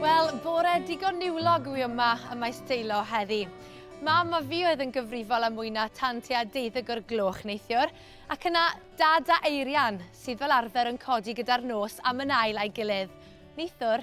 Wel, bore digon niwlog yw yma y mae steilo heddi. Mam a fi oedd yn gyfrifol am mwy na tan tua deuddeg o'r gloch neithiwr, ac yna dad a Eirian, sydd fel arfer yn codi gyda'r nos am yn ail a'i gilydd. Neithiwr,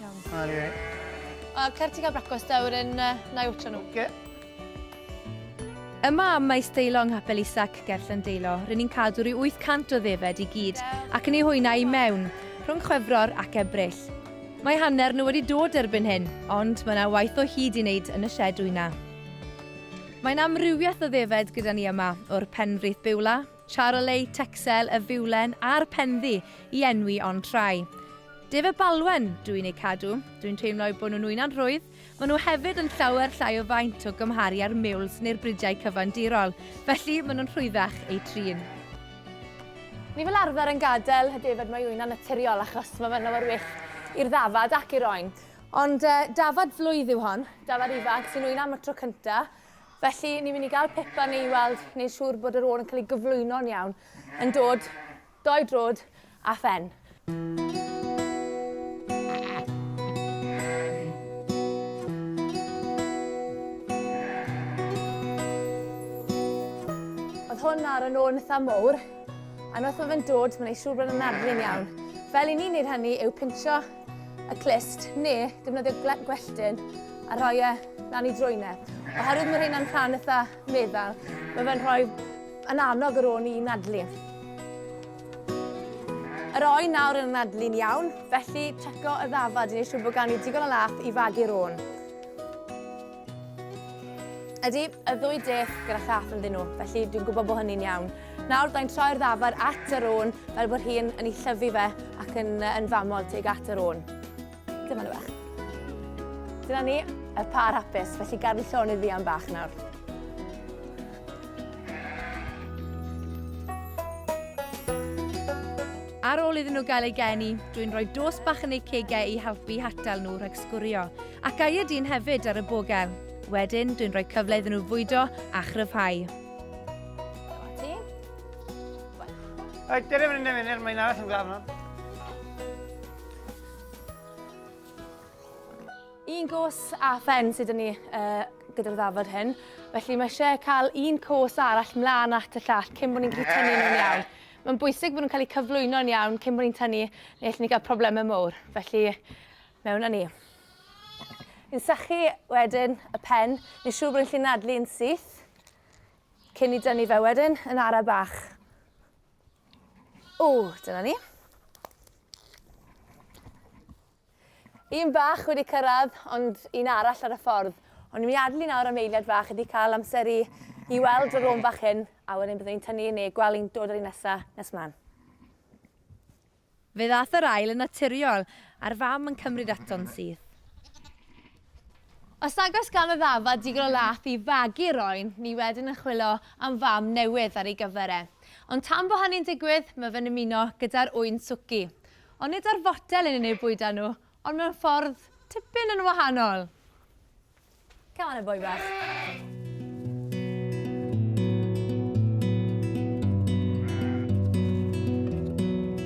Iawn. Ar ie. A cer ti cael brecwast da, wedyn uh, na i wtio nhw. Oce. Yma am maes deilo yng Nghapel Isac, ger Llandeilo, rydyn ni'n cadw rhyw 800 o ddefed i gyd ac yn ei hwyna i mewn, rhwng Chwefror ac Ebrill. Mae hanner nhw wedi dod erbyn hyn, ond mae yna waith o hyd i wneud yn y sied wyna. Mae'n amrywiaeth o ddefed gyda ni yma, o'r Penfrith Biwla, Charolei, Texel, y Fiwlen a'r Penddu i enwi ond rhai. Def a Balwen, dw i'n eu cadw. Dw i'n teimlo eu bod nhw'n wyna'n rhwydd. Maen nhw hefyd yn llawer llai o faint o gymharu â'r miwls neu'r bridiau cyfandirol, felly maen nhw'n rhwyddach eu trin. Ni fel arfer yn gadael y defaid mae wyna'n naturiol achos mae fe'n lawer well i'r ddafad ac i'r oen. Ond dafad flwydd yw hon, dafad ifanc sy'n wyna am y tro cyntaf Felly, ni'n mynd i gael Pippa ni i weld, wneud siŵr bod yr ôl yn cael ei gyflwyno'n iawn, yn dod, dou drod a phen. hwn ar y nôl yn eitha mowr, a wrth mae fe'n dod, mae'n ei siŵr bod yn nadlu'n iawn. Fel i ni'n neud hynny yw pintio y clust neu defnyddio gwelltyn a rhoi e lan i drwynau. E. Oherwydd mae rheina'n rhan eitha meddal, mae fe'n rhoi yn annog yr o'n i nadlu. Yr oen nawr yn nadlu'n iawn, felly checo y ddafad i wneud siŵr bod gan i digon o lath i fagu'r o'n. Ydy, y ddwy dech gyda chath ynddyn nhw, felly dwi'n gwybod bod hynny'n iawn. Nawr, da'n troi'r ddafar at yr ôn fel bod hi'n yn ei llyfu fe ac yn, yn famol teg at yr ôn. Dyma nhw bach. Dyna ni, y par hapus, felly gadw llon i ddian bach nawr. Ar ôl iddyn nhw gael eu geni, dwi'n rhoi dos bach yn eu cegau i helpu i hatal nhw rhag sgwrio. Ac a yd yn hefyd ar y bogel. Wedyn, dwi'n rhoi cyfle iddyn nhw fwydo a chryfhau. Oed, dyna fynd yn fynd, mae'n arall yn glaf yma. Un cwrs a phen sydd yn ni uh, gyda'r ddafod hyn. Felly mae eisiau cael un cwrs arall mlaen at y llall cyn bod ni'n gallu tynnu nhw'n iawn. Mae'n bwysig bod nhw'n cael eu cyflwyno'n iawn cyn bod ni'n tynnu neu allwn ni gael problemau mawr. Felly Mewn â ni. Yn sychu wedyn y pen, ni'n siŵr bod ni'n gallu nadlu yn syth, cyn i dynnu fe wedyn yn ara bach. O, dyna ni. Un bach wedi cyrraedd, ond un arall ar y ffordd. Ond ni'n mynd i adlu nawr am eiliad fach ydy cael amser i, i weld y rôn fach hyn, a wedyn byddwn ni'n tynnu yn ei gweld ni'n dod ar un nesaf nes mlaen. Fe ddaeth yr ail yn naturiol, a'r fam yn cymryd ato'n syth. Os nag oes gan y ddafad digon o lath i fagu'r oen, ni wedyn yn chwilo am fam newydd ar ei gyfer e. Ond tan bo hynny'n digwydd, mae fe'n ymuno gyda'r ŵyn swci. Ond nid o'r fotel yn unig bwyda nhw, ond mewn ffordd tipyn yn wahanol. Come on, a boi bach.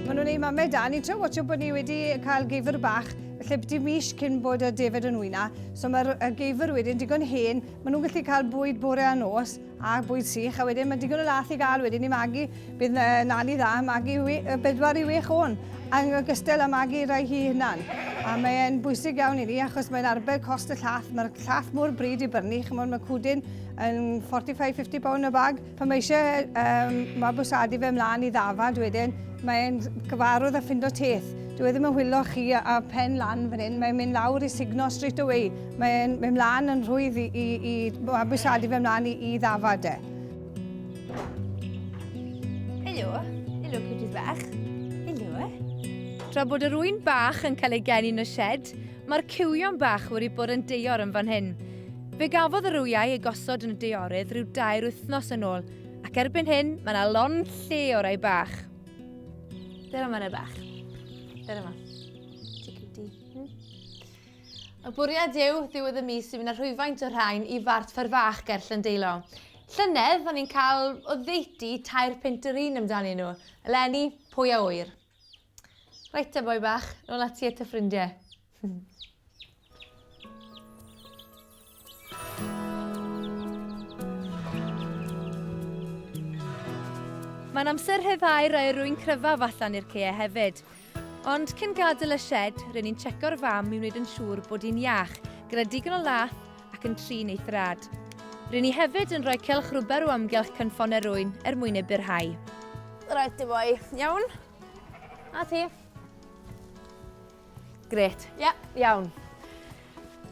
Mae nhw'n ei mamau da. Ni'n trio watcho bod ni wedi cael geifr bach lle byti mis cyn bod y defed yn wyna. So mae'r geifr wedyn digon hen. Mae nhw'n gallu cael bwyd bore a nos a bwyd sych, a wedyn mae digon o lath i gael wedyn i magu. Bydd na, nani dda magu bedwar i wech o'n, yn ogystal â magu rai hi hunan. A mae'n bwysig iawn i ni achos mae'n arbed cost y llath. Mae'r llath mor bryd i brynu, chymod mae cwdyn yn 45-50 pound y bag. Pan mae eisiau um, mabwsadu fe mlaen i ddafad wedyn, mae'n gyfarwydd a ffindo teth. Dwi e ddim yn hwylo chi a pen lan fan hyn, mae'n mynd lawr i signo straight away. Mae'n mynd mlaen yn rhwydd i, i, i mabwysiadu fe mlaen i, i ddafad e. Helo, helo cwtis bach. Helo. Tra bod yr ŵyn bach yn cael ei geni yn y shed, mae'r cywion bach wedi bod yn deor yn fan hyn. Fe gafodd yr wyau ei gosod yn y deorydd rhyw dair wythnos yn ôl, ac erbyn hyn mae yna lon lle o rai bach. Dyna mae'n y bach. Dyna ma. Ti cutie. Hmm? Y bwriad yw ddiwedd y mis i fynd â rhwyfaint o rhain i fart ffer fach ger Llyndeilo. Llynedd, o'n i'n cael o ddeutu tair pint yr un amdanyn nhw. Eleni, pwy a ŵyr? Reit te, boi bach, nôl ati at y ffrindiau. Mae'n amser rhyddhau'r aerwyn cryfaf allan i'r ceau hefyd. Ond cyn gadael y shed, rydyn ni'n checo'r fam i wneud yn siŵr bod hi'n iach, gyda digon o lath ac yn trin ei thrad. Rydyn ni hefyd yn rhoi cylch rwber o amgylch cynffon erwyn er mwyn ei byrhau. Rhaid ti boi, iawn? A ti? Grêt, ie, iawn.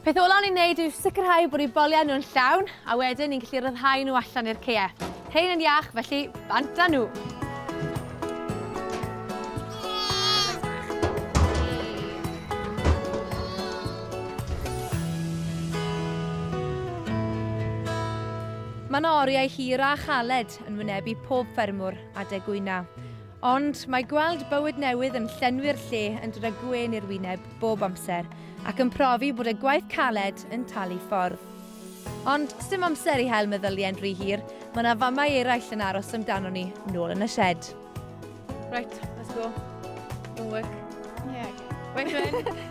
Peth olaf ni'n neud yw sicrhau bod ni'n bolio nhw'n llawn, a wedyn ni'n gallu rhyddhau nhw allan i'r ceau. Rhain yn iach, felly bant â nhw. Mae yna oriau hir a chaled yn wynebu pob ffermwr adeg gwyna. Ond mae gweld bywyd newydd yn llenwi'r lle yn dod â gwên i'r wyneb bob amser, ac yn profi bod y gwaith caled yn talu ffordd. Ond sdim amser i hel meddyliau'n rhy hir, mae yna famau eraill yn aros amdano ni, nôl yn y shed. Right, let's go. Don't work. Yeah. Right, Gwen.